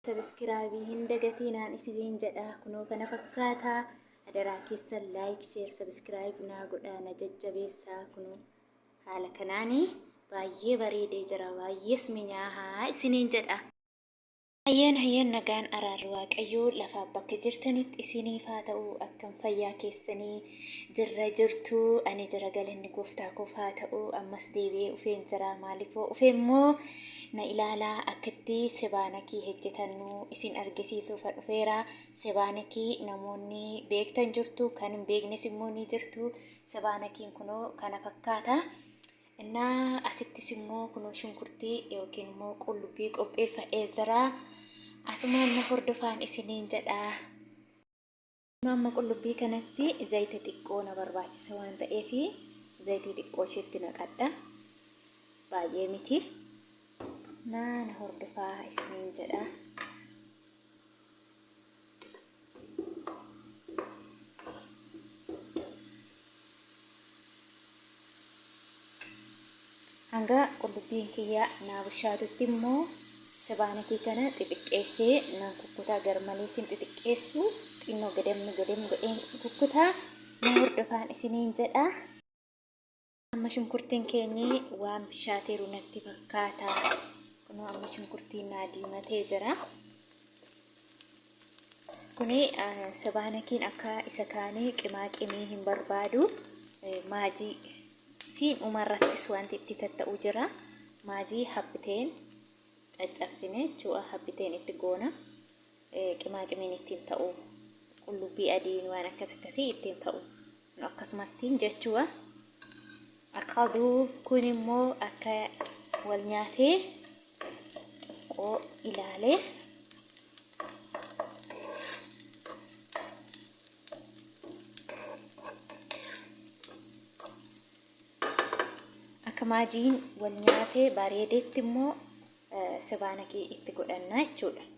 Sabiskiraabii hin dagatiinaan isiniin jedhaa kunoo kana fakkaataa adaraa keessan laayik sheer sabiskiraayib naa godhaa na jajjabeessaa kunoo haala kanaanii baay'ee bareedee jira baay'ees minyaahaa isiniin jedha. Hayyeen hayyeen nagaan araarri waaqayyoo lafaaf bakka jirtanitti isiniif haa ta'u akkam fayyaa keessanii Jirra jirtu ani jira galanni gooftaa koof haa ta'u ammas deebi'ee ufeen jira maalifoo ufe immoo na ilaalaa akkatti sebaanakii hejjetannu isin argisiisuufa dhufeera sebaanakii namoonni beektan jirtu kan hin beeknes immoo ni jirtu sebaanakiin kunoo kana fakkaata innaa asittis immoo kunoo shunkurtii yookiin immoo qullubbii qopheeffadhee jira asumaan na hordofaan isiniin jedha Amma amma qullubbii kanatti zayita xiqqoo na barbaachisa waan ta'eef zayitii xiqqoo isheetti naqadha. Baay'ee miti. Naan hordofaa isiniin jedha. Hanga qullubbiin kiyya naa bushaatutti immoo sabaanakii kana xixiqqeessee nan kukkutaa garmalee sin xixiqqeessu xinnoo gadam gadam godheen kukkutaa na hordofaan isiniin jedha. Amma shunkurtiin keenyi waan bishaateeru natti fakkaata. Kunoo amma shunkurtiin naa diimatee jira. Kuni Sebaanakiin akka isa kaanii qimaa qimii hin barbaadu. Maajii fi dhumarrattis wanti itti tatta'u jira. Maajii habbiteen caccabsine jechuudha. Habbiteen itti goona. Qimaa qimiin ittiin ta'u. Qullubbii adiin waan akkas akkasii ittiin ta'u. akkasumattiin jechuu akadu kun immoo akka wal nyaatee xiqqoo ilaalee akka maajiin wal nyaatee bareedeetti immoo sibaanakii itti godhannaa jechuudha.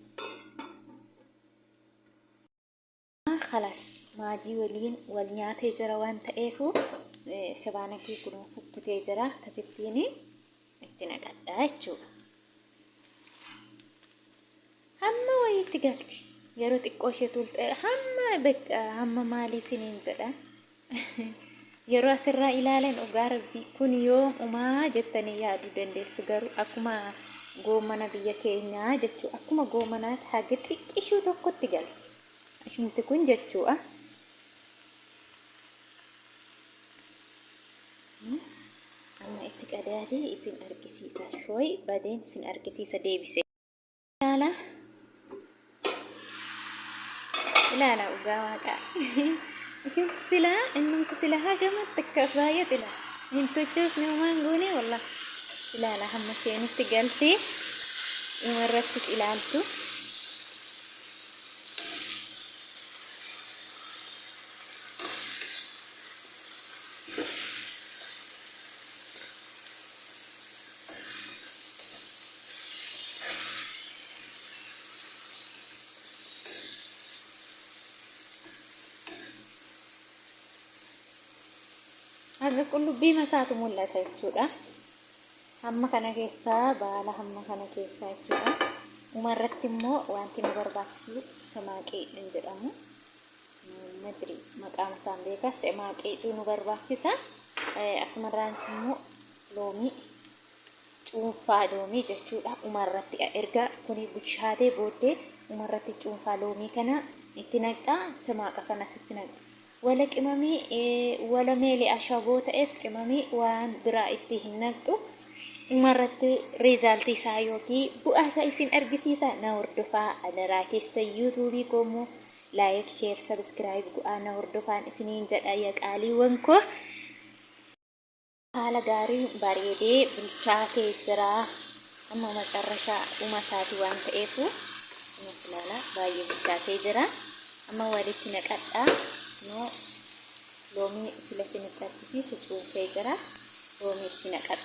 Amma kalas maajii waliin wal nyaatee jira waan ta'eefu sibaanakii kun kukkutee jira akkasittiin itti naqadha jechuudha. Hamma wayiitti galti yeroo xiqqoo ishee tuultee hamma hamma maalii siniin jedha. Yeroo asirraa ilaalan dhugaa rabbii kun yoom umaa jettanii yaaduu dandeessu garuu akkuma goomana biyya keenyaa jechuu akkuma goomanaatti haga xiqqishuu tokkotti galti ishumti kun jechuudha. Amma itti qadaadee isin argisiisa shooyi badeen isin argisiisa deebise. ilaala ilaala dhugaa waaqaa isin sila innumti sila hagamatti akka baay'ee xila hin tochoos ni umaan goone walla ilaala hamma isheenitti galtee dhuma irrattis ilaaltu Haga qullubbii masaatu mul'ata jechuudha. Hamma kana keessaa baala hamma kana keessaa jechuudha. Umarratti immoo wanti nu barbaachisu samaaqii hin jedhamu. madri maqaan isaan beekas emaa qeexuu nu barbaachisa asumarraanis immoo loomii cuunfaa loomii jechuudha umarratti erga kuni bushaatee booddee umarratti cuunfaa loomii kana itti naqxaa simaaqa kanas itti naqxa wala qimamii wala meelee ashaboo ta'es qimamii waan biraa itti hin naqxu umarratti riizaaltii isaa yookiin bu'aa isaa isin argisiisa na hordofaa adaraa keessa yuutuubii koomoo Like share subscribe gu'aa na hordofaan isiniin jedha ya qaaliiwwan koo. Haala gaariin bareedee bilchaatee jira. Amma macarrashaa dhuma isaati waan ta'eefu kunis ilaala baay'ee bilchaatee jira. Amma walitti naqadhaa. Kunoo loomii sila isinitti argisiisu cuunfee jira. Loomii itti naqadha.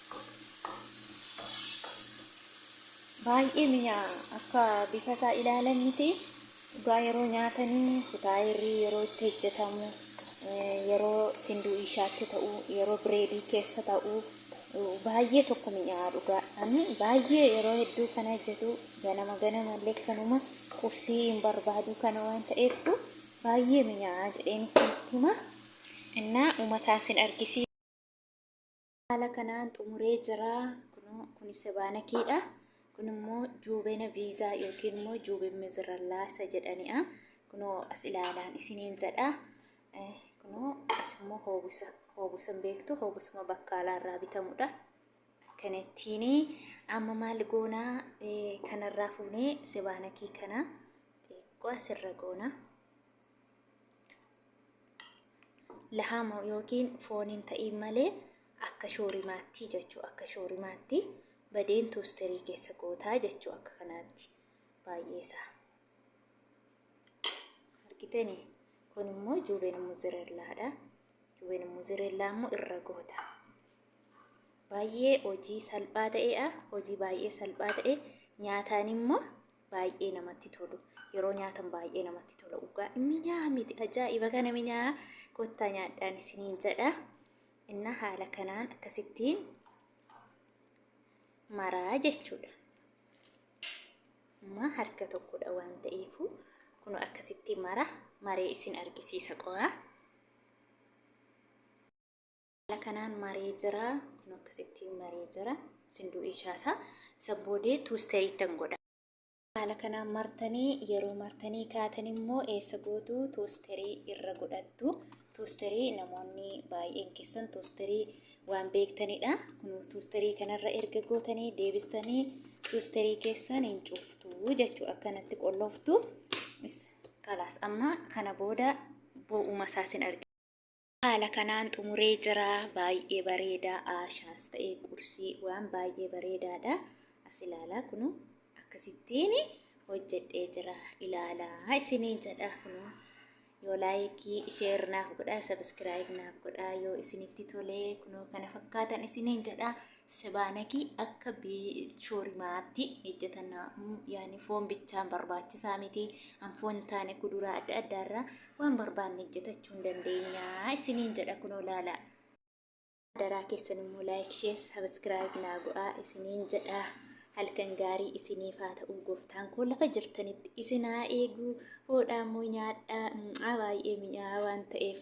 baay'ee mi'aa akka bifa isaa ilaalan miti dhugaa yeroo nyaatanii futaayirrii yeroo itti hojjetamu eh, yeroo sinduu ishaatti ta'u yeroo bireedii keessa ta'u eh, baay'ee tokko mi'aa dhugaa ani baay'ee yeroo hedduu kan hojjetu ganama ganama illee kanuma qursii hin barbaadu kana waan ta'eeftu baay'ee mi'aa jedheen isinitti hima innaa umataan sin argisiisa. Haala kanaan xumuree jira. Kunoo kun sebaana keedha. Kun immoo juubena viizaa yookiin immoo juubin mizirallaa isa jedhani'a. Kunoo as ilaalaan isiniin jedha. Eh, Kunoo as immoo hoobusa. Hoobusa hin beektu. Hoobusuma bakkaalaa irraa bitamudha. Akkanattiin amma maal goonaa eh, kanarraa fuunee sebaana kee kana xiqqoo asirra goonaa. lahaama yookiin fooniin ta'iin malee akka shoorimaatti jechuu akka shoorimaatti badeen tuusterii keessa gootaa jechuu akka kanaatti baay'ee isaa argitanii kun immoo juubeen muzirellaadha juubeen muzirellaa immoo irra goota baay'ee hojii salphaa ta'eedha hojii baay'ee salphaa ta'e nyaataan immoo baay'ee namatti tolu yeroo nyaatan baay'ee namatti tola dhugaa minyaa miti ajaa'iba kana minyaa kottaa nyaadhaan isiniin jedha inna haala kanaan akkasittiin maraa jechuudha amma harka tokkodha waan ta'eefu kun akkasitti mara maree isin argisiisa qo'aa Haala kanaan maree jira. Kun akkasitti maree jira. Isin du'ii shaasaa. Isa boodee tuusteriittan godha. Haala kanaan martanii yeroo martanii kaatan immoo eessa gootu tuusterii irra godhattu. Tuusterii namoonni baay'een keessan tuusterii waan beektanidha. Kun tuusterii kanarra erga gootanii deebistanii tuusterii keessan hin cuftu jechuu akkanatti qollooftu. Kalaas amma kana booda bu'uuma isaas hin argina. Haala kanaan xumuree jira. Baay'ee bareeda. Aashaas ta'ee qursii waan baay'ee bareedaadha. As ilaalaa kunuu akkasittiin hojjedhee jira. Ilaalaa isiniin jedha kunuu. Yoo laayikii sheer naaf godhaa sabiskiraayib naaf godhaa yoo isinitti tolee kunoo kana fakkaatan isiniin jedha. Sebaanakii akka shoorimaatti hojjetannaa yaani foon bichaan barbaachisaa miti an foon hin taane kuduraa adda addaa irraa waan barbaanne hojjetachuu hin dandeenya isiniin jedha kunoo laala. Daraa keessan immoo laayik shee sabiskiraayib naa go'aa isiniin jedha halkan gaarii isiniif haa ta'u gooftaan koo lafa jirtanitti isin haa eegu hoodhaa immoo nyaadhaa baay'ee mi'aa waan ta'eef.